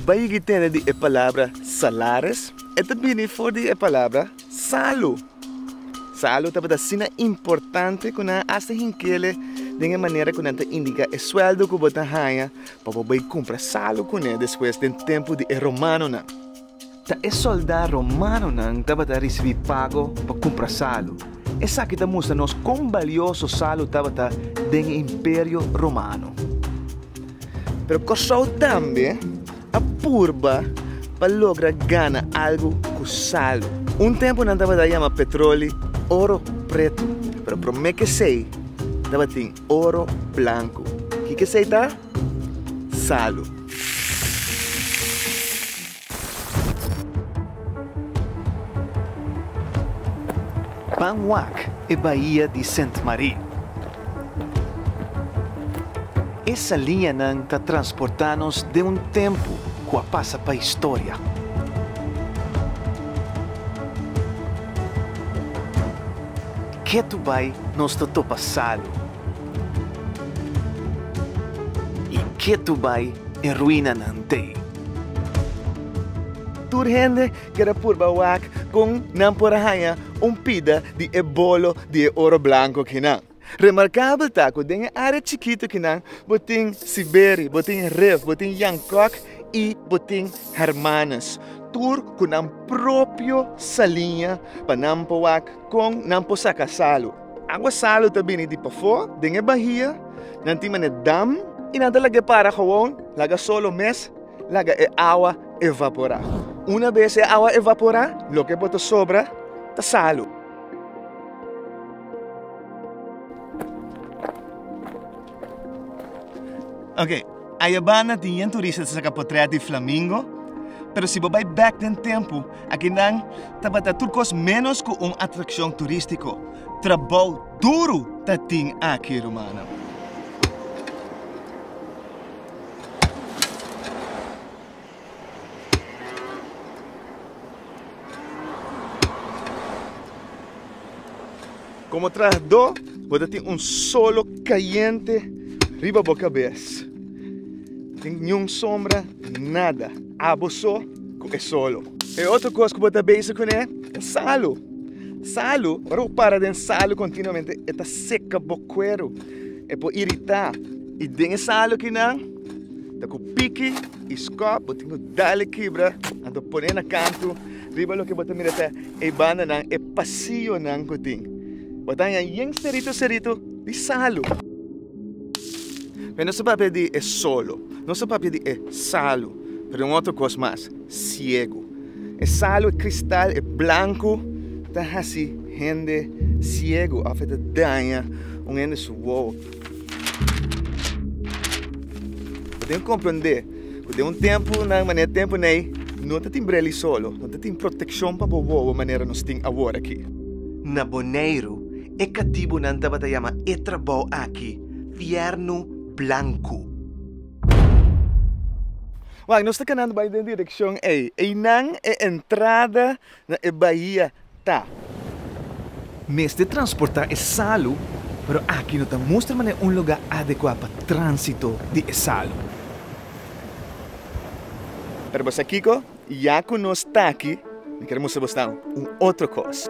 Bai yigi tene di e palabra salares, e ta bini for di e palabra salu. Salu tabata asina importante ku nan asta hinkele den e manera ku nan ta indiká e suèldo ku bo ta haña pa bo bai kumpra salu kuné despues den tempu di e romanonan. Ta e sòldá romanonan tabata risibí pago pa kumpra salu. Esaki ta mustra nos kon balioso Salu tabata den e Imperio Romano. Pero Kòrsou tambe a purba pa logra gana algu ku Salu. Un tempu nan tabata yama petroli oro pretu, pero promé kesei tabatin oro blanku. Ki kesei ta? Salu. Pan wak e bahia di Sint Marie. E saliñanan ta transportá nos den un tempu ku a pasa pa historia. Ke tu bai nos ta topa salu, i ke tu bai e ruinanan t'ei. Tur hende kier a purba wak kon nan por a haña un pida di e bolo di e oro blanko kinan. Remarkabel ta ku den e área chikitu kinan bo tin Siberi, bo tin Rev, bo tin Yankok i bo tin Hermanus, tur ku nan propio saliña pa nan por wak kon nan por saka salu. Agua salu ta bini di pafó, den e bahia nan tin manera dam, i nan ta lag'é para gewoon, laga solo mes laga e awa evaporá. Una bes e awa evaporá, loke por ta sobra ta salu. Ok, ayabanda tin yen turista ta saka potrèt di flamingo, pero si bo bai bèk den tempu, akinan tabata tur kos ménos ku un atrakshon turístiko. Trabou duru ta tin aki, rumannan. Komo trahadó bo ta tin un solo kayente riba bo kabes, sin niun sombra nada, abo so ku e solo. E otro kos ku bo ta bezig kuné ta salu. Salu, ora bo para den salu kontinuamente e ta seka bo kueru, e por iritá i den e salu kinan ta ku piki. E skòp bo tin ku dale kibra anto pone na kantu riba loke bo ta mira ta e bandanan e pasionan ku tin. Bo ta haña yen serito serito di salu. Mi no sa papia di e solo, no sa papia di e salu pero un otro kos mas, siegu. E salu, e kristal, e blanku ta hasi hende siegu òf e ta daña un hende su wowo. Bo tin comprende cu den un tempo na e manera tempo na ey no tatin breli solo, no tatin proteccion pa bo wowo manera nos tin awor aki. Na Boneiru e catibonan tabata yama e trabao aki fierno blanco. Wak, nos ta canando bay den direccion ey. Eynan e entrada. na e bahia ta. Mester transporta e salu, pero aki no ta mustra manera un lugar adecua pa transito di e salu. Pero bo sa kico? Ya cu nos ta aki, mi kier mustra bo staan un otro cos.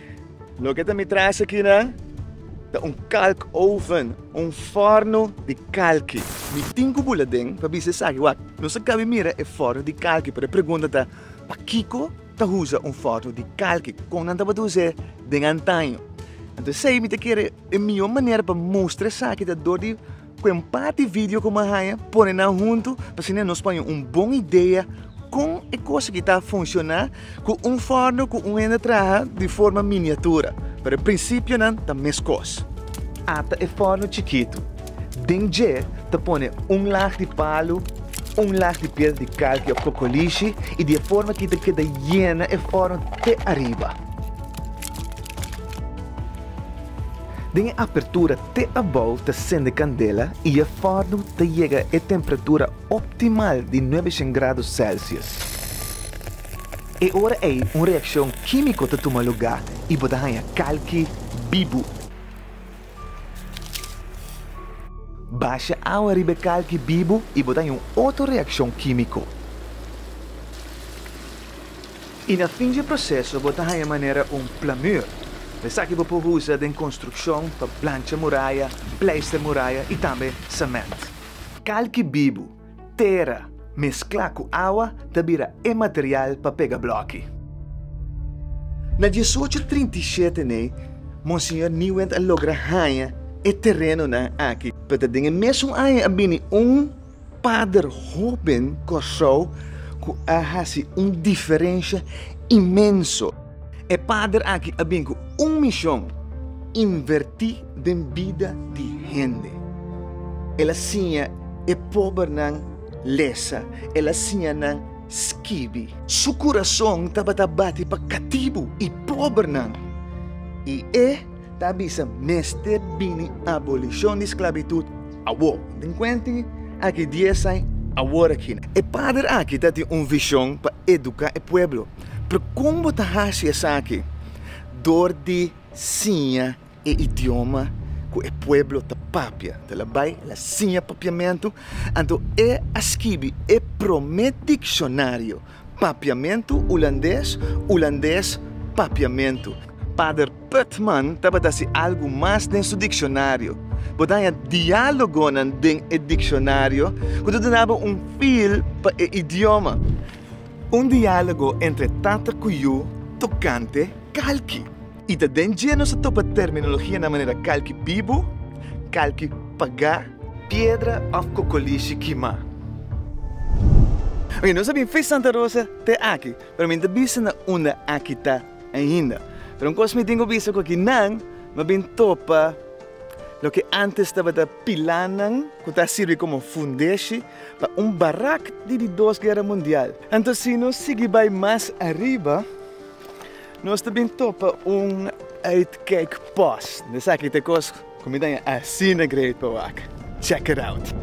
Loke ta mi traes akinan ta un kalk oven, un forno di kalki. Mi tin ku bula den pa bisa esaki, wak. Nos a kabe mira e forno di kalki, pero e pregunta ta, pakiko ta usa un forno di kalki? Kon nan tabata usa e den antaño? Anto esei mi ta kere e mihó manera pa mustra esaki ta dor di. Cu en par di video cu mi haya pone nan hunto pa asina nos paña un bon idea con e cosa ki ta funciona cu un forno cu un hende traha di forma miniatura pero e principionan ta mescos. Ata e forno chikito. Den dje ta pone un lag di palo, un lag di piedra di kalki of kokolishi y di e forma aki ta keda yena e forno te ariba. Den e apertura te abou ta sende candela y e forno ta yega e temperatura optimal di nuebecien grado celsius. E ora ey un reaccion quimico ta tuma lugar y bo ta haya calki bibu. Basha awa riba e calki bibu y bo ta haya un otro reaccion quimico. I na fin dje proseso bo ta haña manera un plamur, esaki bo por usa den konstrukshon pa plancha muraya, pleister muraya i tambe sement. Kalki bibu, tera, mesklá ku awa ta bira e material pa pega bloki. Na diesocho trinta i shete nei, Monseñor Nieuwend a logra haña e terenonan aki, pero ta den e mesun aña a bini un. pader hoben Kòrsou ku a hasi un diferensha inmenso. E pader aki a bin ku un mishon, invertí den bida di hende. El a siña e pobernan lesa, el a siña nan skibi. Su kurason tabata bati pa katibu i pobernan, i e ta bisa mester bini abolishon di sklabitut. Awo, den kuenti aki dies ai awor aki. E pader aki ta tin un vishon pa eduká e pueblo. Pero kon bo ta hasi esaki? Dor di siña e idioma ku e pueblo ta papia. Ta la bai, la siña papiamentu. Anto e a skibi e promé dikshonario. Papiamentu Ulandes, Ulandes, papiamentu. Pader Putman tabata si algu mas den su diksionario. Bo daña diálogonan den e diksionario ku ta dunaba un fil pa e idioma. Un diálogo entre tata ku yu tokante kalki. I ta den dje nos a topa terminologianan manera kalki bibu, kalki pagá, piedra òf kokolishi kimá. Oke, nos a bin fis Santa Rosa te aki, pero mi ta bisa na unda aki ta ainda. Pero un kos mi tin ku bisa ku aki nan mi a bin topa loke ántes tabata pilánan ku ta sirbi komo fundeshi pa un barak di di dos guera mundial. Anto si nos sigui bai mas ariba Nos ta bin topa un uitkijk post. Na esaki ta kos ku mi ta asina great pa wak. Check it out!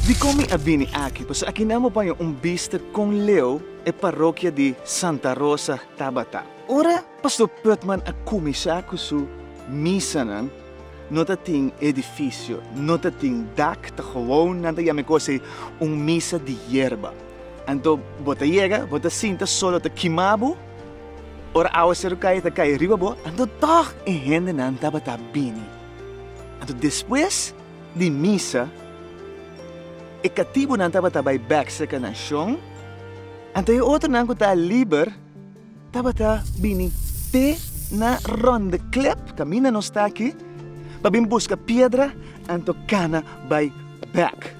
Dikon mi a bini aki? Pasobra aki nan bo baña un bista kon leu. e parokia di Santa Rosa tabata. Ora Pastor Putman a kuminsá ku su misanan, no ta tin edifisio, no ta tin dak, ta gewoon nan ta yam'e kos ei un misa di yerba. Anto bo ta yega, bo ta sinta solo ta kimá bo, ora áwasero kai ta kai riba bo, anto tòg e hendenan tabata bini. Anto despues. di misa, e katibunan tabata bai bekse ka nashon, anto e otronan ku ta liber tabata bini te na ròndeklèp, kaminda nos ta aki, pa bin buska piedra anto kana bai bèk.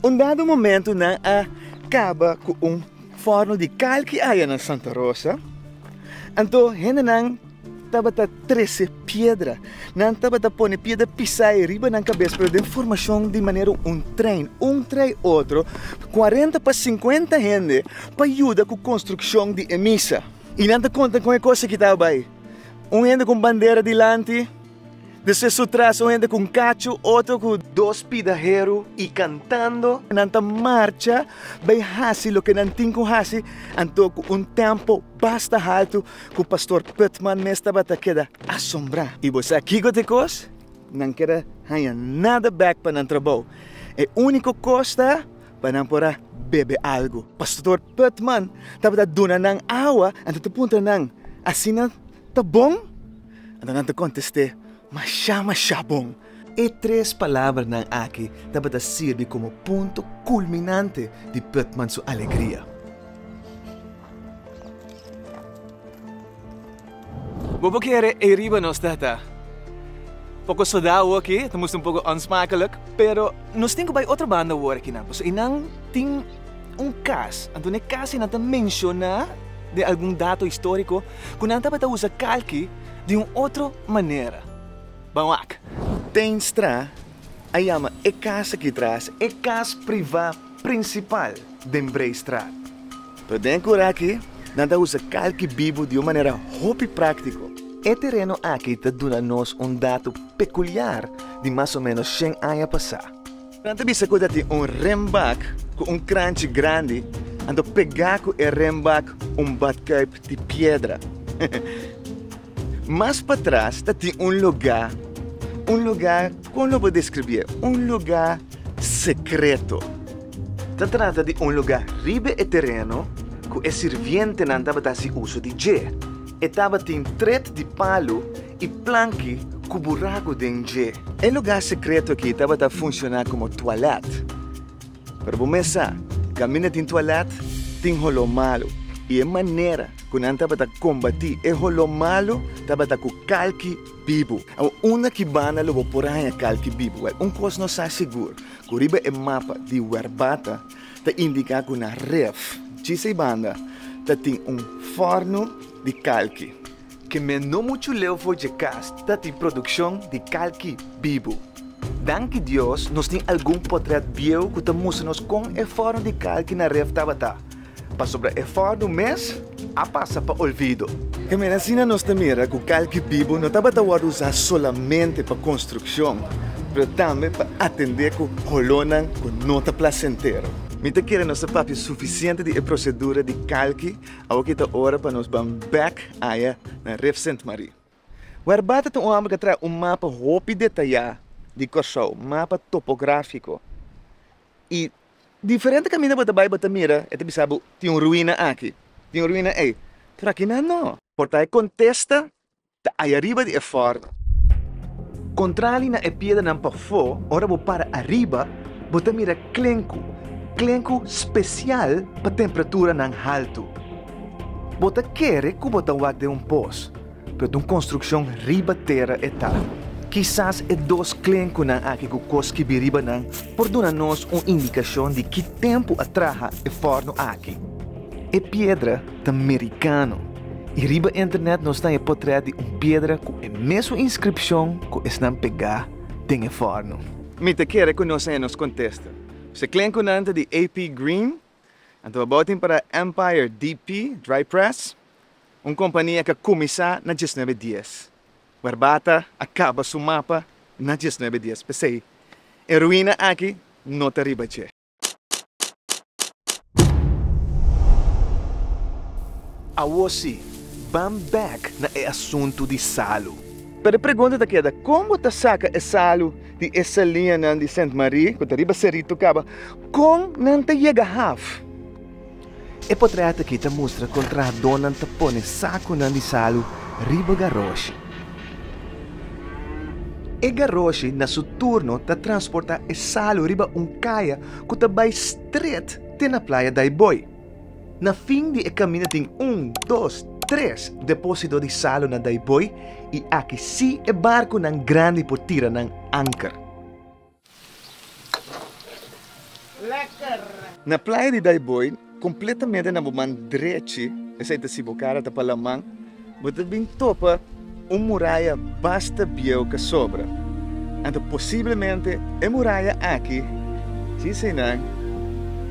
Un dado momentu nan a kaba ku un fòrno di kal ki aya na Santa Rosa, anto hendenan Tabata trese piedra. Nan tabata pone piedra pisá e riba nan kabes, pero den formashon di manera un trein, un tra e otro, kuarenta pa sinkuenta hende pa yuda ku konstrukshon di e misa. I nan ta konta kon e kos aki taba bai, un hende ku un bandera dilanti, Di sesu tras un hende ku un kachu, otro ku dos pidaheru i kantando. Nan ta marcha bai hasi loke nan tin ku hasi, anto ku un tempo basta haltu ku Pastor Putman mes tabata keda asombrá. I bo sa kiko ta e kos? Nan keda haña nada bèk pa nan trabou. E úniko kos ta pa nan por a bebe algu. Pastor Putman tabata duna nan awa, anto ta puntra nan, Asina ta bon? Antanan ta kontest'é, Mashá, mashá bon! E tres palabranan aki tabata sirbi komo punto kulminante di Putman su alegria. Bo por kere ei riba nos, tata? Poko sodao aki ta musta un poko onsmakelik, pero nos tin ku bai otro banda awor aki nan, pasobra einan tin un kas. Anto n'e kas ei nan ta menshoná den algun dato históriko. ku nan tabata usa kalki di un otro manera. Ban wak. Teinstra a yama e kas aki tras e kas privá prinsipal den Breistraat. Pero den kura aki nan ta usa kalki bibu di un manera hopi práktiko. E tereno aki ta duna nos un datu pekuliar di mas o ménos shen aña pasá. Nan ta bisa ku ta tin un renbak ku un kranchi grandi, anto pegá ku e renbak un batkuip di piedra. Mas patras ta tin un lugá, un lugá kon lo por deskribié, un lugá sekreto. Ta trata di un lugá riba e tereno ku e sirvientenan tabata hasi uso di dje. E tabatin tret di palu E planki ku buraku den dje. E lugá sekreto aki tabata funshoná komo tualèt. Pero bo mesa, kaminda tin tualèt, tin holó malu, i e manera ku nan tabata kombatí e holó malu tabata ku kalki bibu. Awa, unda ki banda lo bo por haña kalki bibu? Wèl, un kos nos sa sigur, ku riba e mapa di Werbata ta indiká ku na Ref, djisei banda, ta tin un fòrnu di kalki. Ke men no muchu leu for dje kas ta tin produkshon di kalki bibu. Danki Dios nos tin algun potrèt bieu ku ta mustra nos kon e forma di kalki na ref tabata, pasobra e forma mes a pasa pa olvido. Ke mera asina nos ta mira ku kalki bibu no tabata wòrdu usá solamente pa konstrukshon, pero tambe pa atendé ku holónan ku no ta plasentero. Mi ta kere nos ta papia sufisiente di e prosedura di kalki Awo ki ta ora pa nos ban bek aya na Rif Sint Marie. Werbaat ta un homber ke traha un mapa hopi detaya di Kòrsou, mapa topografiko. I diferente kaminda bo ta bai bo ta mira e ta bisa bo tin un ruina aki, tin un ruina ei, pero akinan no. Por ta e kontesta Ta haya riba di e fort. Contrali na e piedranan pafó, ora bo para ariba, bo ta mira klenku, klenku special pa tempraturanan haltu. Bo ta kere cu bo ta wak den un pos, pero ta un construccion riba tera e ta. Kisas e dos klenkunan aki cu cos skibi riba nan por duna nos un indicacion di ki tempu a traha e forno aki. E piedra ta mericano. I riba internet nos tan e potrèt di un piedra ku e mesun inskripshon ku esnan pegá den e fòrno. Mi ta kere ku nos e nos kontesta. Si klen ku nan ta di AP Green, anto abou tin para Empire DP, Dry Press, un kompania ka kuminsá na diesnuebe dies. Barbata a kaba su mapa na diesnuebe dies, p'esei e ruina aki no ta riba dje. Awor si, ban bek na e asuntu di salu. Pero e pregunta ta keda, kon bo ta saka e salu di e salianan di Sint Marie, ku ta riba Cerrito, kaba? Kon nan ta yega haf? E potrèt akí ta mustra kon trahadónan ta pone sakunan di salu riba garoshi. E garoshi na su turno ta transportá e salu riba un kaya ku ta bai stret te na playa Daiboi. Na fin di e kaminda tin un, dos, tres depósito di salu na Daiboi i aki sí e barkunan grandi por tira nan anker. Na playa di Daiboi, kompletamente na bo man drechi, esei ta si bo kara ta pa laman, bo ta bin topa un muraya basta bieu ka sobra. Anto posiblemente e muraya aki, si eseinan,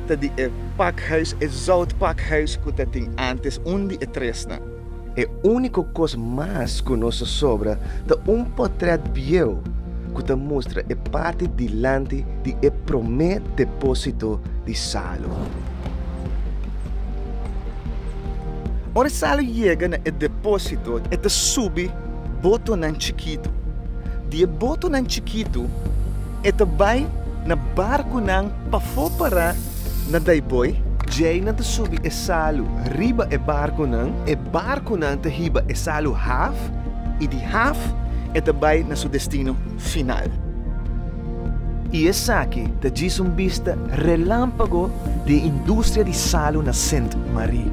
ta di e pakhuis, e zoutpakhuis ku ta tin antes un di e tresnan. E úniko kos mas ku nos ta sobra ta un potrèt bieu ku ta mustra e parti dilanti di e promé depósito di Salu. Ora Salu yega na e depósito, e ta subi botonan chikitu. Di e botonan chikitu. E ta bai na barkunan pafó pará na Daiboi. Djei nan ta subi e salu riba e barkunan, e barkunan ta hiba e salu haf i di haf e ta bai na su destino final. I esaki ta djis un bista relámpago di e industria di salu na Sint Marie.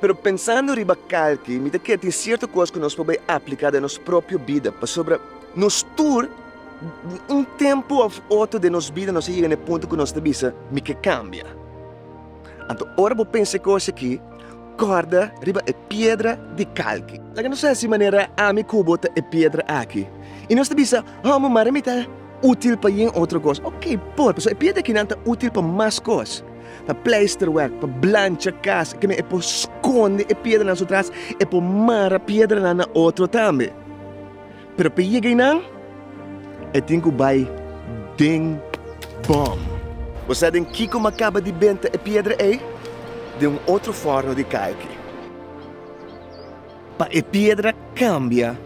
Pero pensando riba kalki, mi ta kere tin sierto kos ku nos por bai apliká den nos propio bida, pasobra nos tur un tempu òf otro den nos bida nos a yega na e punto ku nos ta bisa, mi ke kambia. Anto ora bo pensa e kos aki, kòrda riba e piedra di kalki. Laga nos hasi manera ami ku bo ta e piedra aki, i nos ta bisa, Hò, mi mara mi ta útil pa yen otro kos. Oke, por, pasobra e piedra aki nan ta útil pa mas kos. pa pleisterwerk, pa blancha kas, e kende e por skonde e piedranan su tras, e por mara piedranan na otro tambe. Pero pa e yega einan, e tin ku bai den bòm. Bo sa den kiko m'a kaba di benta e piedra ei? Den un otro fòrno di kalki. Pa e piedra kambia,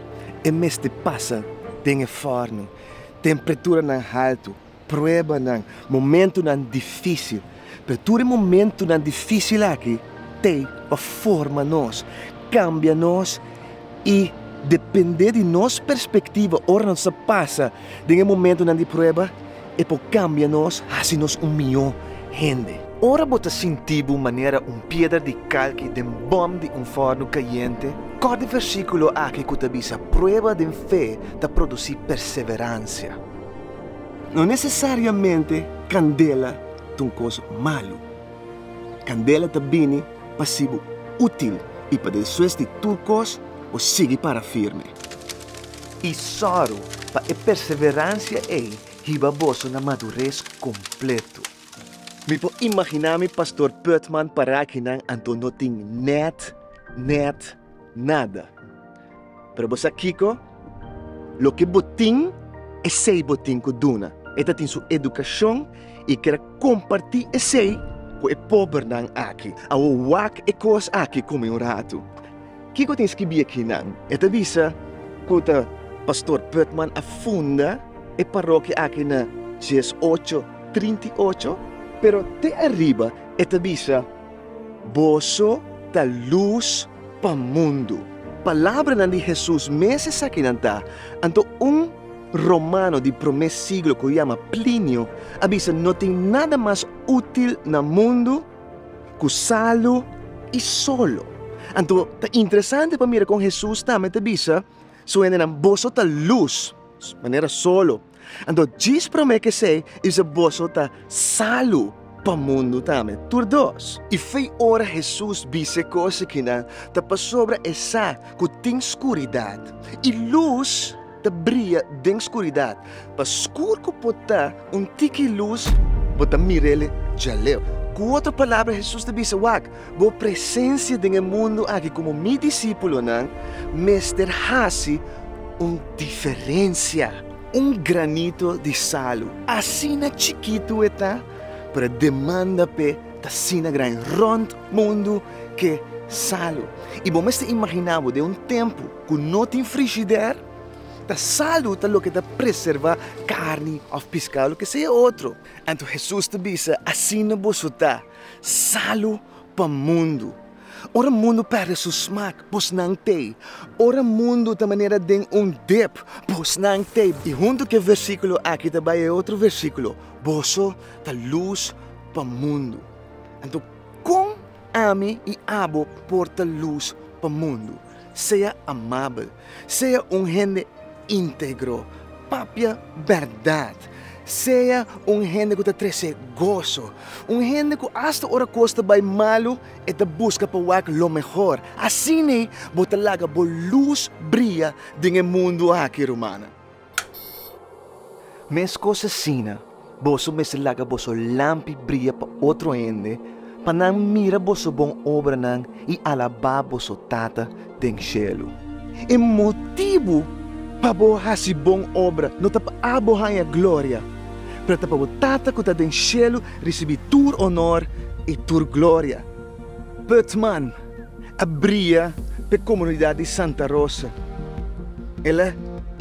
e mester pasa den e fòrno. Temperatura nan haltu. pruebanan, momentunan difísil. Pero tur e momentunan difísil aki t'e pa forma nos, kambia nos i dependé di nos perspektiva ora nos ta pasa den e momentunan di prueba e por kambia nos hasi nos un mihó hende. Ora bo ta sinti bo manera un piedra di kalki den bòm di un fòrnu kayente, kòrda e versíkulo aki ku ta bisa prueba den fe ta produsí perseveransia. No nesesariamente kandela ta un kos malu. Kandela ta bini pa sibu útil i pa despues di tur kos bo sigui para firme. I sòru pa e perseveransia ei hiba boso na madures kompletu. Mi por imaginá mi Pastor Pötman pará akinan anto no tin nèt, nèt, Nada. Pero bo sa kiko? Loke bo tin, esei bo tin ku duna. E ta tin su edukashon i kere kompartí esei ku e pobernan aki. Awor wak e kos aki kome un ratu. Kiko tin skibí e kinan? E ta bisa ku ta Pastor Putman a funda e parokia aki na dies ocho trinta i ocho, pero te ariba e ta bisa, Boso ta lus pa mundu. Palabranan di Hesus mes esakinan ta, anto un romano di promé siglo ku yama Plinio a bisa, No tin nada mas útil na mundu ku salu i solo. Anto ta interesante pa mira kon Hesus tambe ta bisa su hendenan, Boso ta lus, manera solo. Anto djis promé kesey i se boso ta salu pa mundu tambe. Tur dos. I f'e ora Hesus bis'e kos ekinan ta pasobra esá ku tin skuridat i lus ta bria den skuridat, pa skur ku por ta un tiki lus, bo ta mir'el djaleu. Ku otro palabra Hesus ta bisa, Wak, Bo presensia den e mundu aki komo mi disipulonnan mester hasi un diferensia. Un granito di salu, asina chikitu e ta, pero e demanda p'e ta asina gran. Rònt mundu ke salu. I bo mester imaginá bo den un tempu ku no tin frishidèr, ta salu ta loke ta preservá karni òf piskado, loke sea e otro. Anto Hesus ta bisa, Asina boso ta. Salu pa mundu. Ora mundu perde su smak, pos nan t'ei. Ora mundu ta manera den un dip, pos nan t'ei. I huntu ku e versíkulo aki ta bai e otro versíkulo, Boso ta lus pa mundu. Anto, kon ami i abo por ta lus pa mundu? sea amabel, sea un hende integro, papia bèrdat, sea un hende ku ta trese goso, un hende ku asta ora kos ta bai malu e ta buska pa wak lo mehor. Asina bo ta laga bo lus bria den e mundu aki, rumannan. Meskos asina, boso mester laga boso lampi bria pa otro hende, pa nan mira boso bon obranan i alabá boso Tata den shelu. E motibu pa bo hasi bon obra no ta pa abo haña gloria, pero ta pa bo Tata ku ta den shelu risibí tur onor i tur gloria. Putman a bria p'e komunidat di Santa Rosa. El a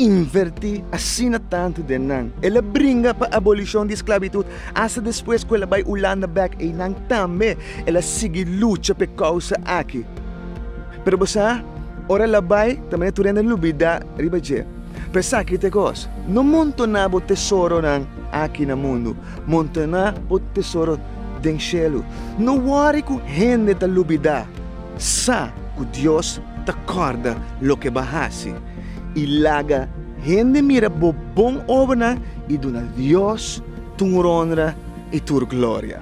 invertí asina tantu den nan, el a bringa pa abolishon di sklabitut asta despues ku el a bai Ulanda bèk einan tambe el a sigui lucha p'e kousa aki. Pero bo sa, ora el a bai ta manera tur hende a lubidá riba dje. P'e esaki ta e kos, no montoná bo tesoronan aki na mundu, montoná bo tesoro den shelu. No wòri ku hende ta lubidá, sa ku Dios ta kòrda loke bo a hasi. I laga hende mira bo bon obranan i duna Dios tur onra i tur gloria.